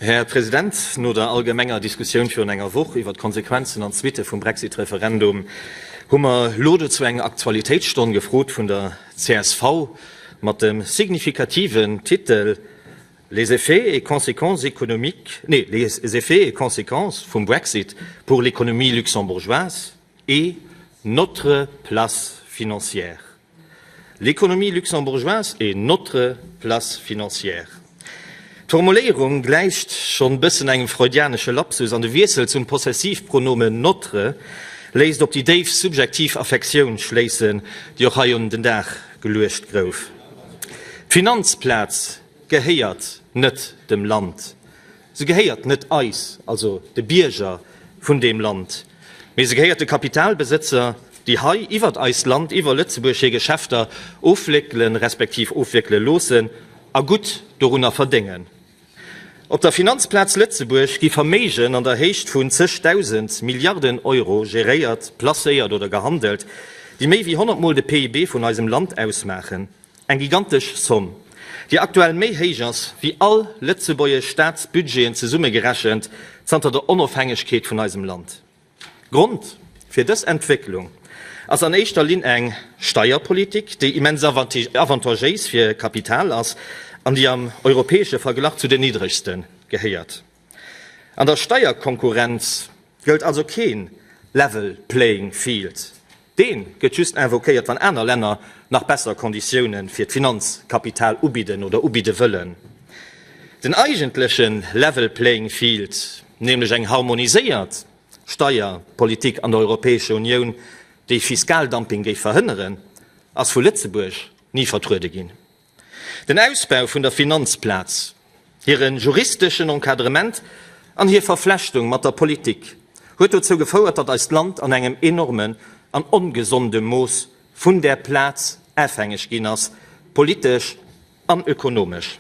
Här President, no der allgemenger Diskussioun virun enger Woch iwwert d'Konsequenzen an d'Suitte vum Brexit-Referendum hu mer elo dozou eng Aktualitéitsstonn gefrot vun der csv mat dem signifikativen Titel Les effets et conséquences économiques, nee, les effets et conséquences vum Brexit pour l'économie luxembourgeoise. Et notre place financière. L'économie luxembourgeoise est notre place financière. D'Formuléierung gläicht schonn bëssen engem freudianesche Lapsus an de Wiessel zum Possessivpronomen notre léisst op déi déif subjektiv Affektioun schléissen, déi och hei un den Dag geluecht gouf. D'Finanzplaz gehéiert net dem Land. Se gehéiert net eis, also de Bierger vun deem Land. Mee se gehéiert de Kapitalbesëtzer, déi hei iwwert eist Land, iwwer Lëtzebuerg hir Geschäfter ofwéckelen, respektiv ofwéckele loossen a gutt dorunner verdéngen. Op der Finanzplaz Lëtzebuerg gi Verméigen an der Héicht vun zeg Dausend Milliarden Euro geréiert, placéiert oder gehandelt, déi méi wéi 100 Mol de PIB vun eisem Land ausmaachen. Eng gigantesch Somm, déi aktuell méi héich ass wéi all lëtzebuergesch Staatsbudgeten zesummegerechent zanter der Onofhängegkeet vun eisem Land. Grond fir dës Entwécklung ass an éischter Linn eng Steierpolitik, déi immens avantagéis fir Kapital ass an déi am europäesche Verglach zu den niddregsten gehéiert. An der Steierkonkurrenz gëllt also kee level playing field. Dee gëtt just invoquéiert, wann aner Länner nach besser Konditioune fir d'Finanzkapital ubidden oder ubidde wëllen. Den eigentleche level playing field, nämlech eng harmoniséiert Steierpolitik an der Europäescher Unioun, déi Fiskaldumping géif verhënneren, ass vu Lëtzebuerg ni vertruede ginn. Den Ausbau vun der Finanzplaz, hire juristeschen Encadrement an hir Verflechtung mat der Politik huet dozou gefouert, datt eist Land an engem enormen an ongesonde Mooss vun där Plaz afhängeg ginn ass, politesch an ökonomesch.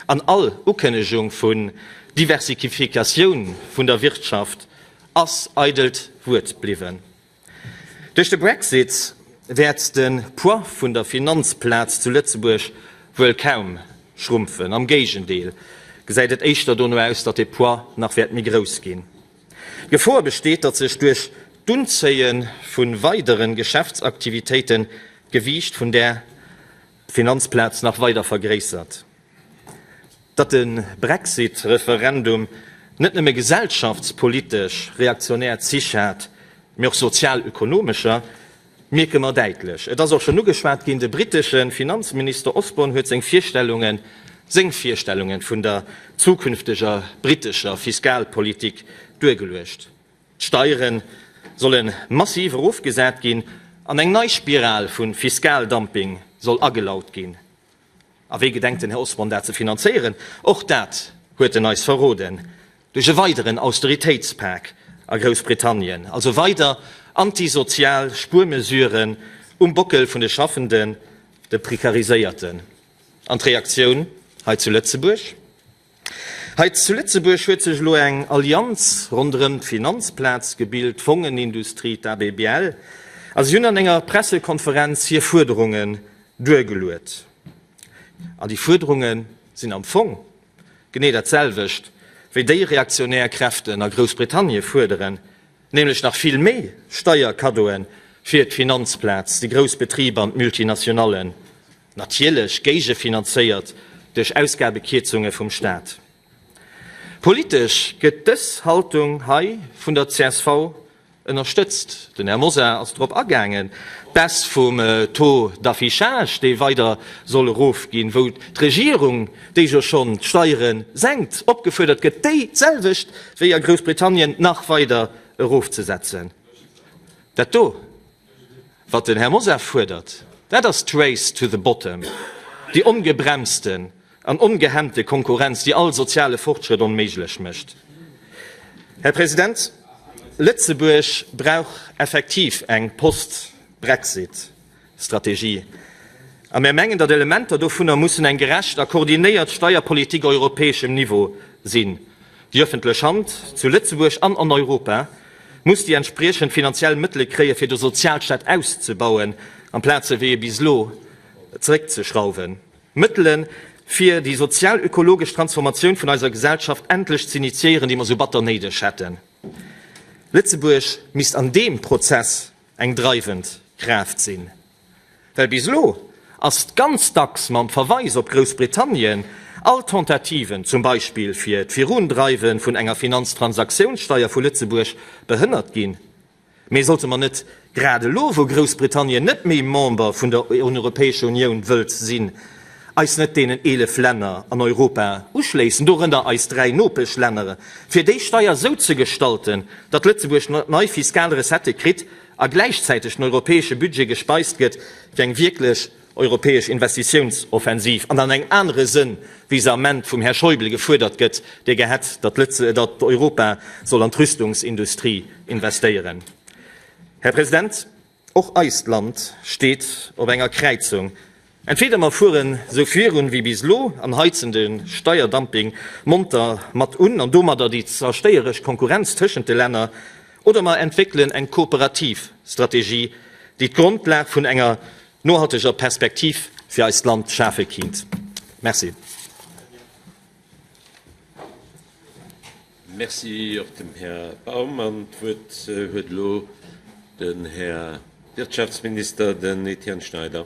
An all Ukënnegung vun Diversikifikatioun vun der Wirtschaft ass eidelt Wuert bliwwen. Duerch de Brexit wäert de Poids vun der Finanzplaz zu Lëtzebuerg wuel kaum schrumpfen. Am Géigendeel gesäit et éischter dono aus, datt de Poids nach wäert méi grouss ginn. D'Gefor besteet, datt sech duerch d'Unzéie vu weidere Geschäftsaktivitéiten d'Gewiicht vun där Finanzplaz nach weider vergréissert. Datt de Brexit-Referendum net nëmme gesellschaftspolitesch reaktionär Zich hat, mee och sozialökonomescher, mierke mer däitlech. Et ass och schonn ugeschwat ginn, De britesche Finanzminister Osborne huet seng Virstellungen, seng Virstellungen vun der zukünfteger britescher Fiskalpolitik duergeluecht. D'Steiere solle massiv erofgesat ginn an eng nei Spiral vu Fiskaldumping soll agelaut ginn. A wéi gedenkt den Här Osborne dat ze finanzéieren? Och dat huet en eis verroden, Duerch e weideren Austeritéitspak a Groussbritannien, also weider antisozial Spuermesuren um Bockel vun de Schaffenden, de Prekariséierten. An d'Reaktioun hei zu Lëtzebuerg? Hei zu Lëtzebuerg huet sech elo eng Allianz ronderëm d'Finanzplaz gebilt, d'Fongenindustrie, d'ABBL. A si hunn an enger Pressekonferenz hir Fuerderungen duergeluet. An déi Fuerderunge sinn am Fong genee dat selwecht wéi déi reaktionär Kräften a Groussbritannie fuerderen, nämlech nach vill méi Steierkaddoe fir d'Finanzplaz, déi grouss Betriber an d'Multinationallen. Natierlech géigefinanzéiert duerch Ausgabekierzunge vum Staat. Politesch gëtt dës Haltung hei vun der csv ënnerstëtzt. Den Här Mosar ass drop agaangen, d'Baisse vum Taux d'affichage, dee weider soll erofginn, wou d'Regierung, déi jo schonn d'Steiere senkt, opgefuerdert gëtt, déi d'selwecht wéi a Groussbritannien nach weider erofzesetzen. Dat do Wat den Hermosaf fuerdert, dat ass d'Race to the bottom, déi ongebremsten an ongehemmte Konkurrenz, déi all soziale Fortschrëtt onméiglech mécht. Här President, Lëtzebuerg brauch effektiv eng Post-Brexit-Strategie. A mir mengen, datt Elementer dovunner mussen eng gerecht a koordinéiert Steierpolitik europäeschem Niveau sinn, déi ëffentlech Hand zu Lëtzebuerg an an Europa, muss déi entspriechend finanziell Mëttele kréien, fir de Sozialstaat auszebauen, amplaze wéi bis elo zeréckzeschrauwen. Mëttele fir déi sozial-ökologesch Transformatioun vun eiser Gesellschaft endlech ze initiéieren, déi mer esou batter néideg hätten. Lëtzebuerg misst an deem Prozess eng dreiwend Kraaft sinn. Well bis elo ass ganz dacks mam Verweis op Groussbritannien all Tentativen, zum Beispill fir d'Virundreiwen vun enger Finanztransaktiounssteier vu Lëtzebuerg, behënnert ginn. Mee sollte mer net grad elo, wou Groussbritannien net méi Member vun der Europäescher Unioun wëllt sinn, eis net deenen 11 Länner an Europa uschléissen, dorënner eis dräi Nopeschlänner, fir déi Steier esou ze gestalten, datt Lëtzebuerg nei fiskal Recettë kritt, a gläichzäiteg den europäesche Budget gespeist gëtt fir eng wierklech europäesch Investitiounsoffensiv an an engem anere Sënn, wéi se am Ment vum Här Schäuble gefuerdert gëtt, dee gär hätt, datt Europa soll an d'Rüstungsindustrie investéieren. Här President, och eist Land steet op enger Kräizung. Entweder mer fueren sou virun wéi bis elo an heizen de Steierdumping monter mat un an domadder déi zerstéieresch Konkurrenz tëschent de Länner, oder mer entwéckelen eng kooperativ Strategie, déi d'Grondlag vun enger nohalteger Perspektiv fir eist Land schafe kinnt. Merci. Merci och dem Här Baum. An d'Wuert huet elo den Här Wirtschaftsminister, den Etienne Schneider.